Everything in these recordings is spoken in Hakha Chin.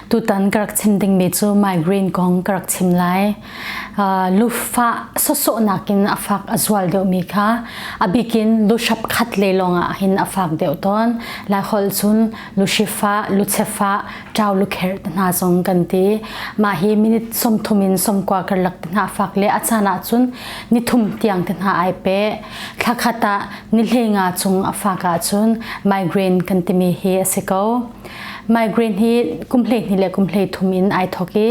Tutan ka rak chim dingmi cu migraine kong ka rak chim lai. Uh, lufa sawsawhnak in a fak a zual deuhmi kha a bikin lu hrap khat le lawng ah hin a fak deuh tawn. Lai holh cun lushifa, luchefa, ṭau lukherh te hna zong kan ti. Mah hi minute sawmthum in sawmkua karlak te hna a fak le a caan ahcun nithum tiang te hna ai pe. Thla khat ah nihhlei nga chung a fak ahcun migraine kan timi hi a si ko. Migraine hi kum hleihnih le kum hleithum in ai thawk i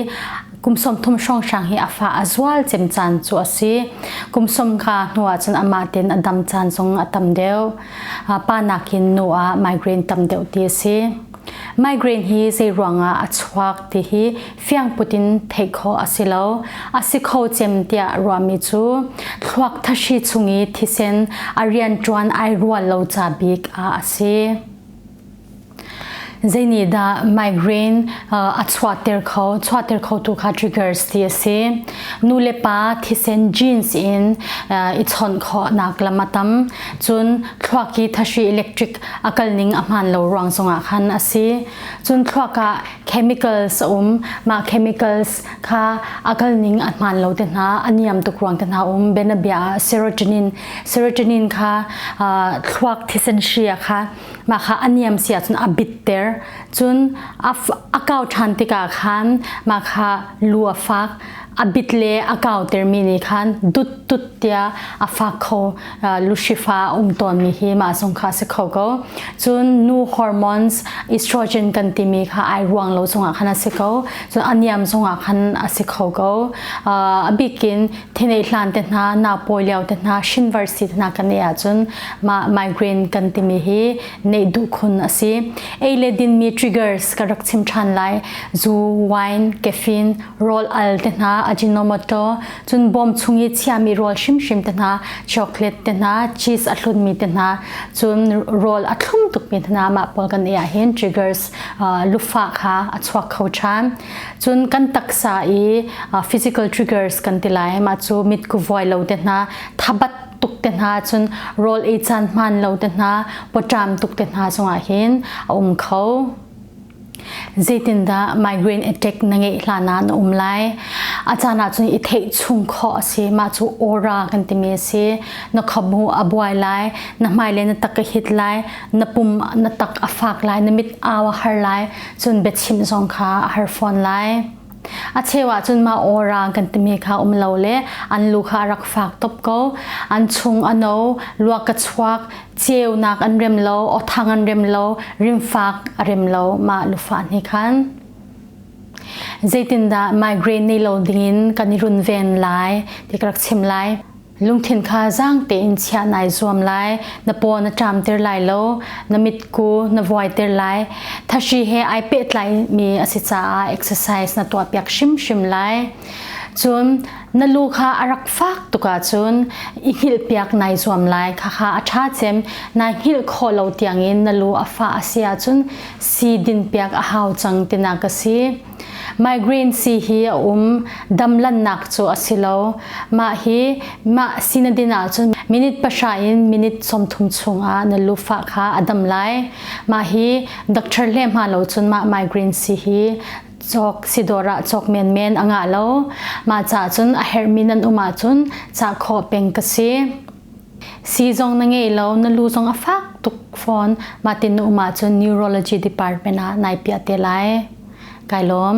kum sawmthum hrawnghrang hi a fa a zual cem caan cu a si. Kum sawm ka hnu ahcun amah ten a dam caan zong a tam deuh. Pa nakin nu ah migraine tam deuh ti a si. Migraine hi zei ruangah a chuak ti hi fiangput in theih khawh a si lo a si kho cem tiah ruahmi cu thluak thashi chung i thisen a rian ṭuan ai rual lo ca bik ah a si zeinihdah migraine uh, a chuahter kho chuahter kho tu kha triggers ti a si nu le pa thisen genes in uh, i chawnh khawhnak lam a tam cun thluak i thashi electric a kal ning a hmaan lo ruang zongah khan a si cun thluak ah chemicals a um mah chemicals kha a kal ning a hmaan lo te hna a niam tuk ruang te hna um benabia ah serotonin serotonin kha thluak thisen hri kha mah kha a niam si ahcun a bitter cun a kau ṭhan tikah khan mah kha lu a fak a bit le a kauter mi nih khan dut tut tia a fak kho luhrifa um tawnmi hi mah zong kha si kho ko cun nu hormones estrogen kan timi kha ai ruang lo zongah khan a si ko cun a niam zongah khan a si kho ko a bikin thinei hlan te hna na pawi lio te hna university te hna kan ei ahcun ma migraine kan timi hi neih duh khun a si ei le din mi triggers ka rak chim than lai zu wine caffeine roll al te hna ajinomoto cun bawm chung i chiami rawl hrimhrim te hna chocolate te hna cheese a hlunmi te hna cun rawl a thlum tukmi hna mah pawl kan i ahhin triggers uh, lufa kha a chuak kho ṭhan cun kan taksa i uh, physical triggers kan ti lai mah cu mitku vuai lo te hna thabat tuk te hna cun rawl ei caan hman lo te hna potram tuk te hna zongah hin a um kho zeitindah migraine attack na ngeih hlan ah na um lai a caan ahcun i theih chung khawh a si mah cu aura kan timi a si na khabu a buai lai na hmaile na tak a hit lai na pum na tak a fak lai na mit au a har lai cun biachim zong kha a har fawn lai A cheu ah cun mah ora kan timi kha um lo le an lu kha a rak fak top ko. An chung a no, luak ka chuak, ceunak an rem lo, othang an rem lo, rimfak a rem lo mah lufa ni khan. Zeitindah migraine nei lo dingin kan i runven lai ti ka rak chim lai. Lungthin kha zaang tein chiah nai zuam lai. Na paw na ṭamter lai lo. Na mitku na vuaiter lai. Thashi he ai pehtlaimi a si caah exercise na tuahpiak hrimhrim lai. Cun na lu kha a rak fak tuk ahcun i hngilhpiak nai zuam lai. Khakha a ṭha cem nai hngilh khawh lo tiangin na lu a fah a si ahcun sii dinpiak a hau cang tinak a si. Migraine sii hi a um. Damlannak cu a si lo. Mah hi mah si na din ahcun minute pahra in minute sawmthum chungah na lufa kha a dam lai. Mah hi doctor le hma lo cun mah migraine sii hi cawk si dawr ah cawk menmen a ngah lo. Mah ca cun a herhmi nan um ahcun cah khawh peng ka si. Sii zong na ngei lo, na lu zong a fak tuk fawn. Mahtin na um ahcun Neurology Department ah nai piah te lai. Kai lawm.